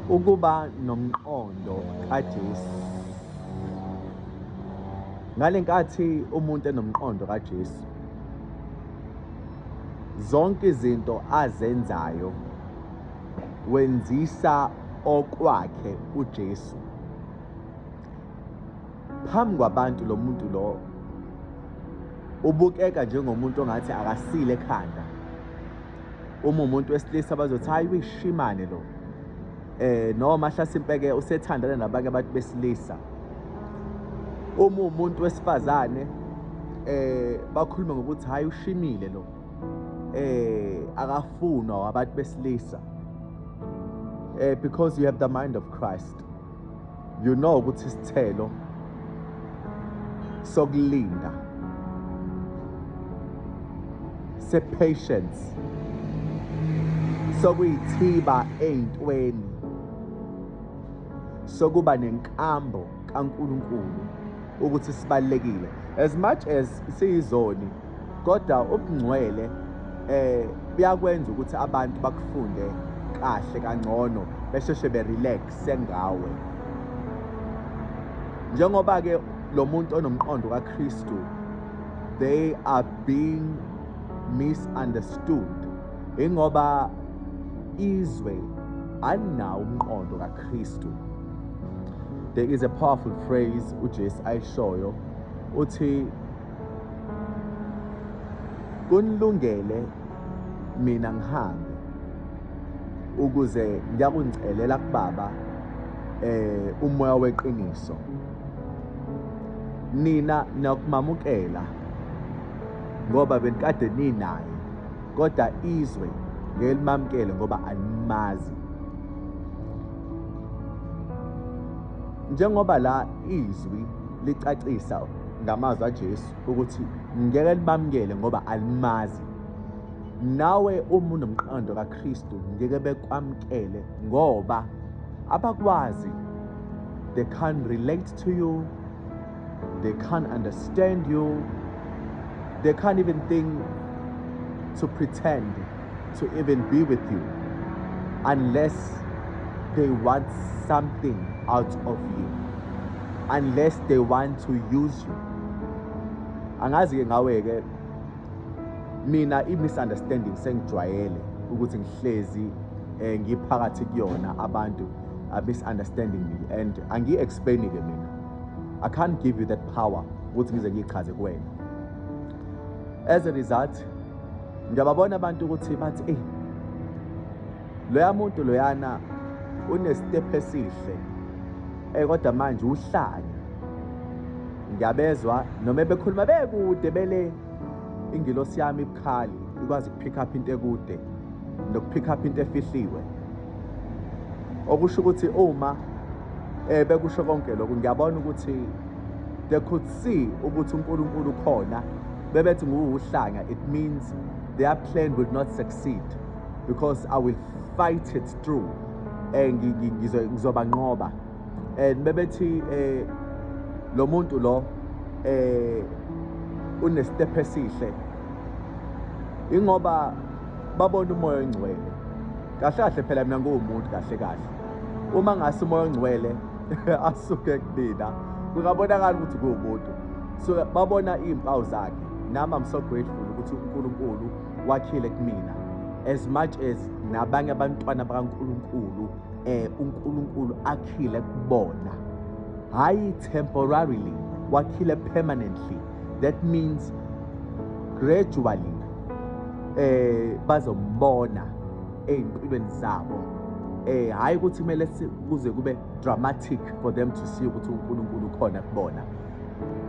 Ukuba nomqondo kaJesu. Ngale nkathi umuntu enomqondo kaJesu, zonke izinto azenzayo wenzisa okwakhe uJesu. Phambi kwabantu lo muntu lo ubukeka njengomuntu ongathi akasile ekhanda uma umuntu wesilisa bazothi hayi uyishimane lo eh noma hlasimpeke usethandana nabanye abantu besilisa uma umuntu wesifazane eh bakhuluma ngokuthi hayi ushimile lo eh akafunwa wabantu besilisa eh because you have the mind of Christ you know ukuthi isithelo sokulinda sepatience sokuyithiba ey'ntweni sokuba nenkambo kaNkulunkulu ukuthi sibalekile as much as siyizoni kodwa ubungcwele eh buyakwenza ukuthi abantu bakufunde kahle kangcono besheshe berelax sengawe njengoba ke lo muntu onomqondo kaKristu they are being misunderstood ingoba izwe alinawo umqondo kaKristu there is a powerful phrase uJesu ayishoyo uthi kunilungele mina ngihambe ukuze ngiyakungicelela kubaba eh umoya weqiniso nina nakumamukela ngoba benikade ninaye kodwa izwe ngelimamkele ngoba animazi njengoba la izwi licacisa ngamazwi aJesu ukuthi ngeke libamukele ngoba alimazi nawe uma unomqondo kaKristu ngeke bekwamkele ngoba abakwazi they can't relate to you they can't understand you they can't even think to pretend to even be with you unless they want something out of you unless they want to use you angazi-ke ngawe-ke mina i-misunderstanding sengijwayele ukuthi ngihlezi eh, ngiphakathi kuyona abantu are misunderstanding me and angiyi-explaini-ke mina i can't give you that power ukuthi ngize ngiyichaze kuwena as a result ngiyababona abantu ukuthi bathi eyi loya muntu loyana unesitephu esihle um kodwa manje uhlanya ngiyabezwa noma bekhuluma bekude bele ingilosi yami ibukhali ikwazi ukupick up into ekude nokupick up into efihliwe okusho ukuthi uma eh bekusho konke lokho ngiyabona ukuthi they could see ukuthi uNkulunkulu ukhona bebethi nguwuhlanga it means their plan would not succeed because I will fight it through and eh, ngizobanqoba and bebethi eh lo muntu lo eh unestep esihle ingoba babona umoya ongcwele kahle kahle phela mina nguwumuntu kahle kahle uma ngase umoya ongcwele asuke kubina kungabonakala ukuthi kuwumuntu so babona iy'mpawu zakhe nami i'm so grateful ukuthi unkulunkulu wakhile kumina as much as nabanye abantwana bakankulunkulu eh uNkulunkulu akhile kubona hayi temporarily wakhile permanently that means gradually eh bazombona ezimpilweni zabo eh hayi ukuthi kumele kuze kube dramatic for them to see ukuthi uNkulunkulu khona kubona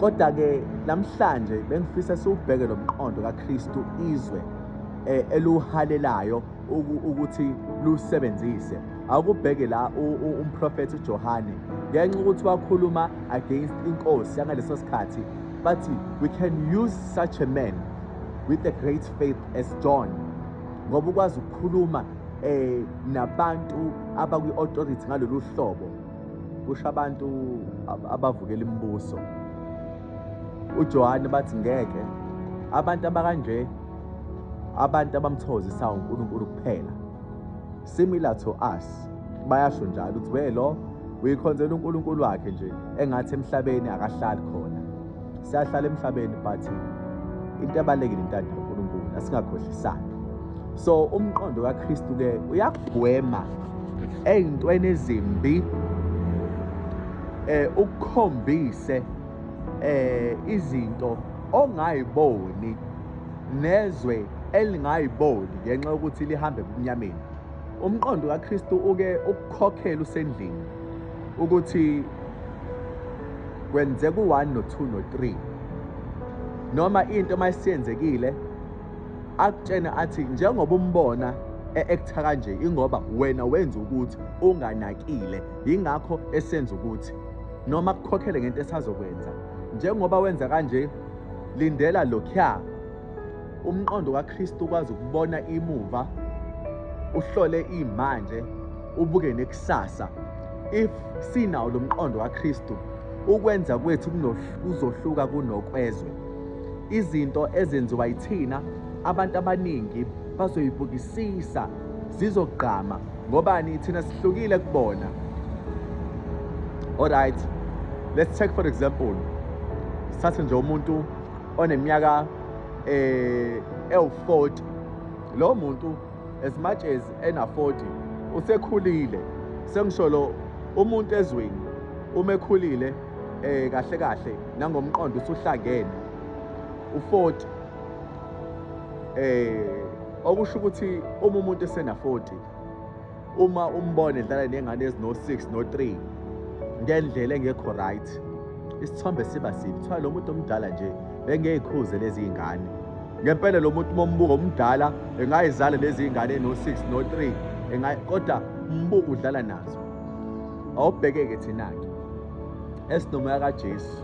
kodwa ke namhlanje bengifisa siwubheke lomqondo kaKristu izwe eh, eluhalelayo ukuthi lusebenzise akubheke la umprofethi uJohane ngenxa ukuthi wakhuluma against inkosi yangaleso sikhathi bathi we can use such a man with a great faith as John ngoba ukwazi ukukhuluma eh nabantu abakwi authority ngalolu hlobo kusho abantu abavukela imibuso uJohane bathi ngeke abantu abakanje Abantu abamthokozisayo uNkulunkulu kuphela. Similar to us. Bayasho njalo ukuthi we lo uyikhonzela uNkulunkulu wakhe nje engathi emhlabeni akahlali khona. Siyahlala emhlabeni but into ebalekile intando kaNkulunkulu asingakhohlisani. So umqondo kaKristu ke uyagwema ezintweni ezimbi eh ukukhombise eh izinto ongayiboni nezwe elingayiboli ngenxa yokuthi lihambe ebumnyameni umqondo kaKristu uke ukukhokhela usendlini ukuthi kwenzeka u-1 no-2 no-3 noma into uma isiyenzekile akutshene athi njengoba umbona e-aktha kanje ingoba wena wenza ukuthi unganakile yingakho esenza ukuthi noma kukhokhele ngento esazokwenza njengoba wenza kanje Lindela lokhuya. Umqondo kaKristu ukwazi ukubona imuva, uhlole imanje, ubuke nekusasa. If sinawo lo mqondo kaKristu, ukwenza kwethu kuzohluka kunokwezwe. Izinto ezenziwa yithina abantu abaningi bazoyibukisisa zizogqama ngobani thina sihlukile kubona alright let's take for example sithathe nje umuntu oneminyaka eh ewu-40 lo muntu as much as ena-40 usekhulile sengisho lo umuntu ezweni uma ekhulile eh kahle kahle nangomqondo usuhlangene u40 eh okusho ukuthi uma umuntu esena 40 uma umbone edlala nengane ezino 6 no 3 ngendlela engekho right isithombe siba sibi kuthiwa lo muntu omdala nje bengeyikhuze lezi ngane ngempela lo muntu mombuka omdala engayizala lezi ngane no 6 no 3 engayi kodwa umbuka udlala nazo awubheke-ke thina-ke esinomoya kajesu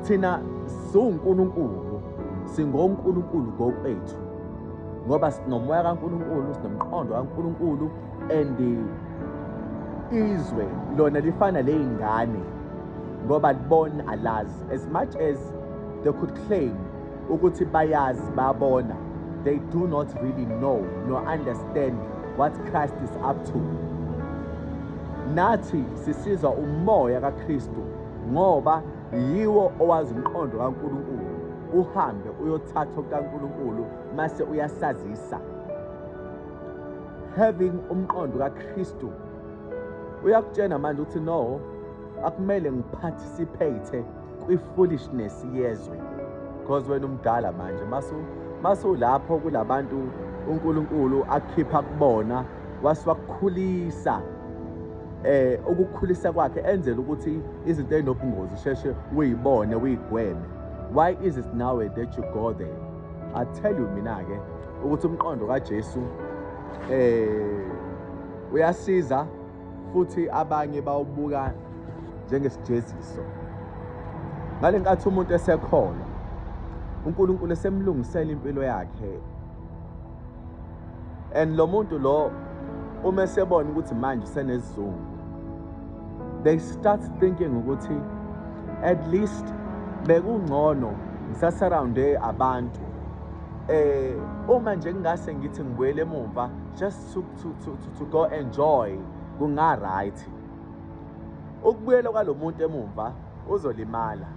Thina siwuNkulunkulu, singoNkulunkulu ngokwethu ngoba sinomoya kaNkulunkulu, sinomqondo kaNkulunkulu and izwe lona lifana ley'ngane ngoba libona alazi as much as they could claim ukuthi bayazi babona they do not really know nor understand what Christ is up to nathi sisizwa umoya kaKristu ngoba yiwo owazi umqondo kaNkulunkulu uhambe uyothatha okukaNkulunkulu mase uyasazisa having umqondo kaKristu uyakutshena manje ukuthi no akumele ngiparticipate kwi-foolishness yezwe because wena umdala manje masu masulapho kulabantu uNkulunkulu akhipha kubona wasiwakukhulisa eh ukukhulisa kwakhe enzela ukuthi izinto ezinobungozi sheshe uyibone uyigweme why is it now that you go there i tell you mina ke ukuthi umqondo kaJesu eh uyasiza futhi abanye bawubuka njengesijeziso ngale nkathi umuntu esekhona uNkulunkulu esemlungisela impilo yakhe and lo muntu lo uma esebona ukuthi manje usenesizungu they start thinking ukuthi at least bekungcono ngisasurrounde abantu eh uma nje ngingase ngithi ngibuyele emuva just to, to, to, to, to go enjoy kunga right ukubuyela kwalomuntu emumva uzolimala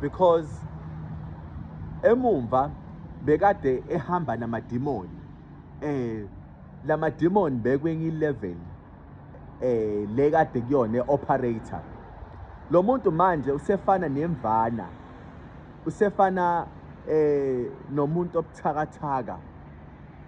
because emumva bekade ehamba namadimoni eh lamadimoni bekwenye ilevel eh le kade kuyona eoperator lo muntu manje usefana nemvana usefana eh nomuntu obuthakathaka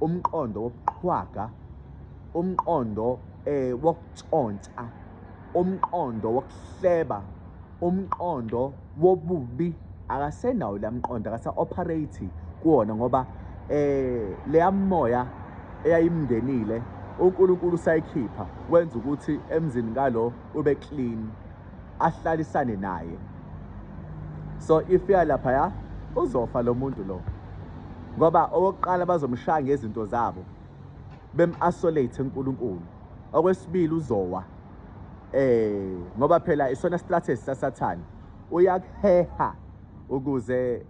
umqondo wobuqhwaga umqondo eh wokutshontsa umqondo wokuhleba umqondo wobubi akasenawo la mqondo akasa operate kuwona ngoba eh leya moya eyayimngenile uNkulunkulu usayikhipha wenza ukuthi emzini kalo ube clean ahlalisane naye so if ya lapha ya uzofa lo muntu lo ngoba owokuqala bazomshaya ngezinto zabo bem-isolate uNkulunkulu okwesibili uzowa eh ngoba phela isona strategy sasathana uyakuheha ukuze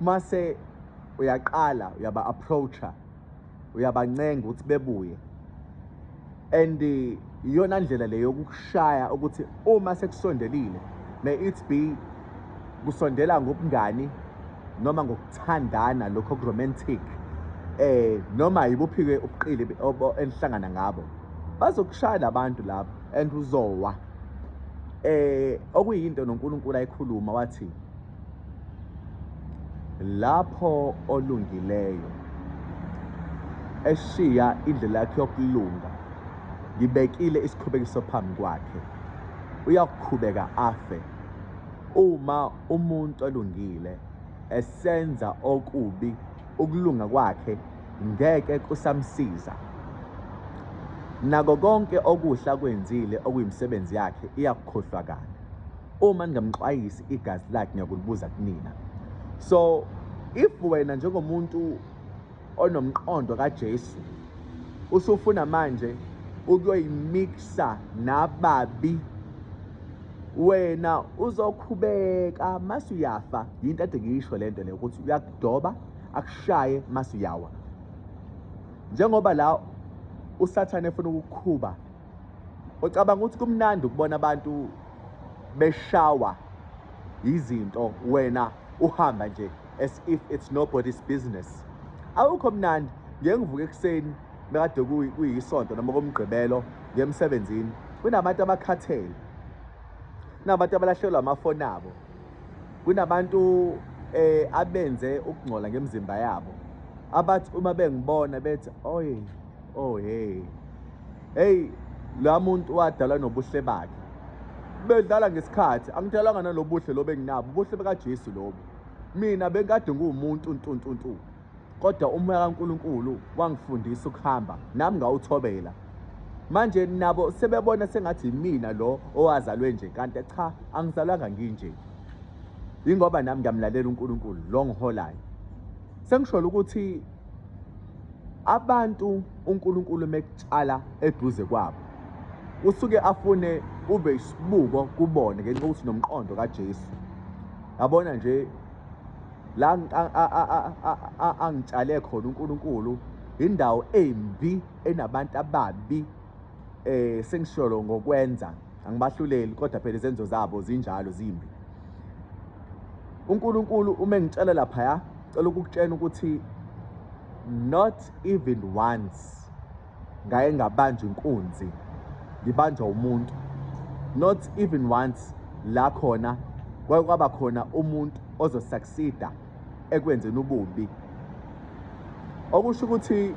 mase uyaqala uyaba approacha uyabancenga ukuthi bebuye and iyona ndlela le yokushaya ukuthi uma sekusondelile may it be kusondela ngobungani noma ngokuthandana lokho romantic eh noma yibuphike ubuqili enihlangana ngabo bazokushaya labantu lapho and uzowa eh okuyinto noNkulunkulu ayikhuluma wathi Lapho olungileyo eshiya indlela yakhe yokulunga, ngibekile isikhubekiso phambi kwakhe, uyakuqhubeka afe. Uma umuntu olungile esenza okubi, ukulunga kwakhe ngeke kusamsiza. Nako konke okuhle akwenzile okuyimisebenzi yakhe, iyakukhohlwa kanye. uma ningamxwayisi igazi lakhe ngiyakulubuza kunina so if wena njengomuntu onomqondo kaJesu usufuna manje ukuyoyimixa nababi wena uzokhubeka mase uyafa yinto ade ngiyisho lento le ukuthi uyakudoba akushaye mase uyawa njengoba la usathane efuna ukukhuba Ucabanga ukuthi kumnandi ukubona abantu beshawa yizinto wena uhamba nje as if it's nobody's business awukho mnandi ngeke ngivuke ekuseni bekade kuyisonto noma komgqibelo ngemsebenzini kunabantu abakhathele kunabantu abalahlekelwa amafoni abo kunabantu eh abenze ukungcola ngemizimba yabo abathi uma bengibona bethi oy oh hey heyi la muntu wadalwa nobuhle bakhe bedlala ngesikhathi angidalwanga nalobuhle lobe nginabo ubuhle bekaJesu lobo mina bekade nguwumuntu ntuntuntu kodwa umoya kaNkuluNkulu wangifundisa ukuhamba nami ngawuthobela manje nabo sebebona sengathi yimina lo owazalwe nje kanti cha angizalwanga nginje yingoba nami ngiyamlalela uNkulunkulu lo ngiholayo sengisholo ukuthi abantu uNkulunkulu mekutshala eduze kwabo usuke afune ube isibuko kubona ngenxa ukuthi nomqondo kaJesu yabona nje la angitshale khona uNkulunkulu indawo embi enabantu ababi eh sengisholo ngokwenza angibahluleli kodwa phela izenzo zabo zinjalo zimbi uNkulunkulu uma engitshela lapha ya cela ukukutshena ukuthi not even once ngaye ngabanjwa inkunzi ngibanjwa umuntu not even once la khona kwaye kwaba khona umuntu ozosucceeda ekwenzeni ububi okusho ukuthi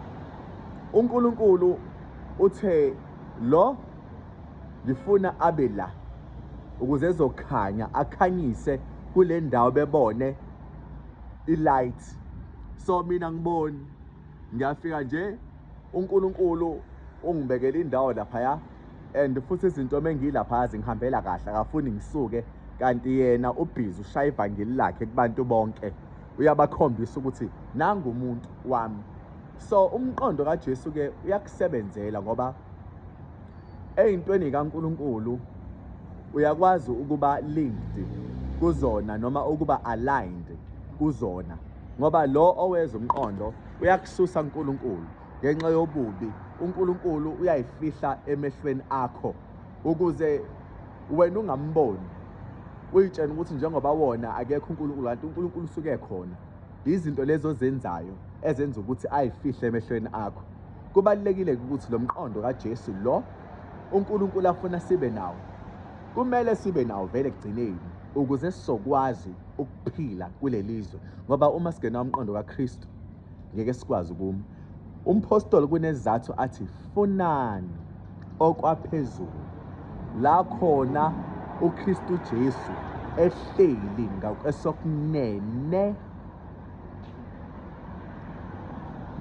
uNkulunkulu Uthe lo ngifuna abe la ukuze ezokhanya akhanyise kule ndawo bebone i-light so mina ngiboni ngiyafika nje uNkulunkulu ungibekela indawo laphaya and futhi izinto mengilaphaya zingihambela kahle akafuni ngisuke kanti yena ubhizi ushaya ivangeli lakhe kubantu bonke uyabakhombisa ukuthi nangu umuntu wami so umqondo kaJesu ke uyakusebenzela ngoba eyintweni kaNkuluNkulu uyakwazi ukuba linked kuzona noma ukuba aligned kuzona ngoba lo oweza umqondo uyakususa uNkulunkulu ngenxa yobubi uNkulunkulu uyayifihla emehlweni akho ukuze wena ungamboni uyitshena ukuthi njengoba wona akekho uNkulunkulu kanti uNkulunkulu usuke khona Izinto lezo ozenzayo ezenza ukuthi ayifihle emehlweni akho. Kubalulekile ukuthi lo mqondo kaJesu lo uNkulunkulu afuna sibe nawo. Kumele sibe nawo vele ekugcineni ukuze sizokwazi ukuphila kulelizwe ngoba uma singena umqondo kaKristu ngeke sikwazi ukuma. Umphostoli kunezizathu athi funani okwaphezulu la khona uKristu Jesu ehleli ngakwesokunene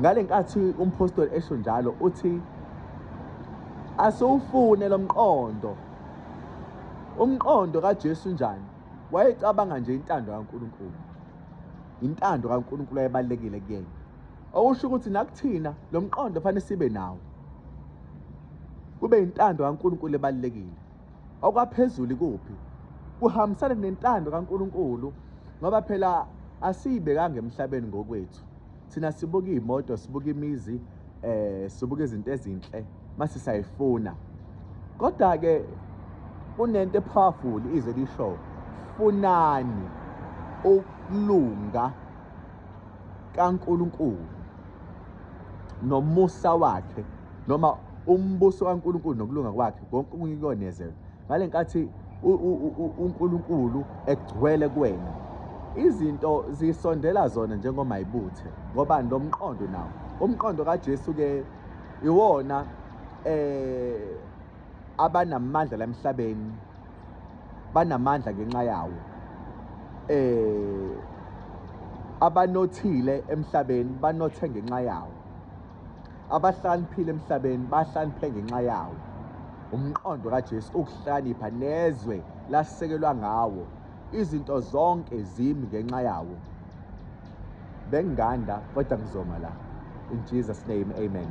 ngale nkathi umphostoli esho njalo uthi asiwufune lo mqondo umqondo kaJesu njani wayecabanga nje intando kaNkulunkulu intando kaNkulunkulu ayebalekile kuyena okusho ukuthi nakuthina lo mqondo fanele sibe nawo kube intando kaNkulunkulu ebalekile okwaphezulu kuphi kuhambisana nentando kaNkulunkulu ngoba phela asiyibekanga emhlabeni ngokwethu thina sibuka imoto sibuka imizi eh sibuka izinto ezinhle mase sayifuna kodwa ke kunento epowerful ize lisho funani ukulunga kaNkulunkulu nomusa wakhe noma umbuso kaNkulunkulu nokulunga kwakhe konke okunye kuyonezelwa ngale nkathi uNkulunkulu egcwele kuwena izinto zisondela zona njengoma ibuthe ngoba nomqondo nawo umqondo kaJesu ke iwona eh abanamandla lemhlabeni banamandla ngenxa yawo eh abanothile emhlabeni banothe ngenxa yawo abahlaniphile emhlabeni bahlaniphe ngenxa yawo umqondo kaJesu ukuhlanipha nezwe lasekelwa ngawo izinto zonke zimi ngenxa yawo benganda kodwa ngizoma la in Jesus name amen